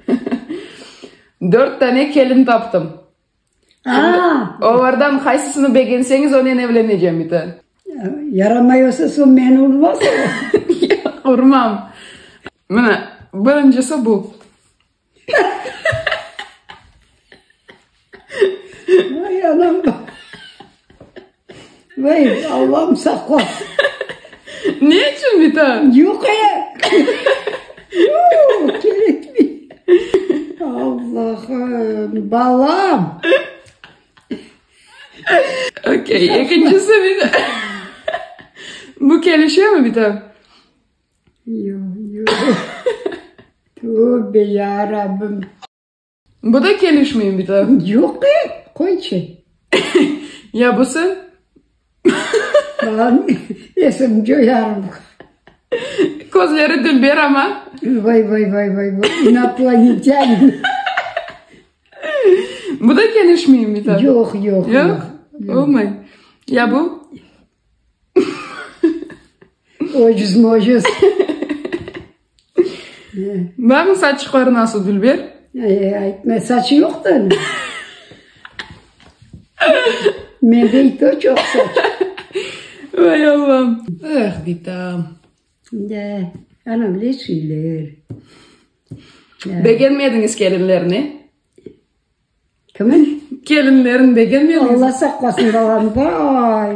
Hıhıhı. Dört tane kelin taptım. Aa! Olardan qaysısını begenseñiz, onen evlenecem, iti. Yaramay olsa, soñ meni urmasıñız. Yoq, urmam. Mına, birincisi bu. Hıhıhı. Vay, anam! Vay, Allam sağ qol! Ne içün bitta? Yoq e! Yoq, kerekmey! Allahım, balam! Okey, ekincisi bitta. Bu kelişemi bitta? Yoq, yoq. Tövbe yarabim! Bu da kelişmey bir daha. Yoq be, qoy çi. Ya busı? Lan, esim coyarım. Közleri dülber ama. Vay vay vay vay vay, inoplanetyane. Bu da kelişmey bir daha. Yoq, yoq, yoq. Yoq? Olmay. Ya bu? Ocuz mocuz. Barmı saçıqları nasıl Dülber? Aytma, saçı yoqtı anı. Mende i to çoq saç. Vay Allam. Ah, bitam. Da, anam ne şeyler. Begenmediñiz kelinlerni? Kimin? Kelinlerin begenmediñiz? Alla saqlasın balam, vay!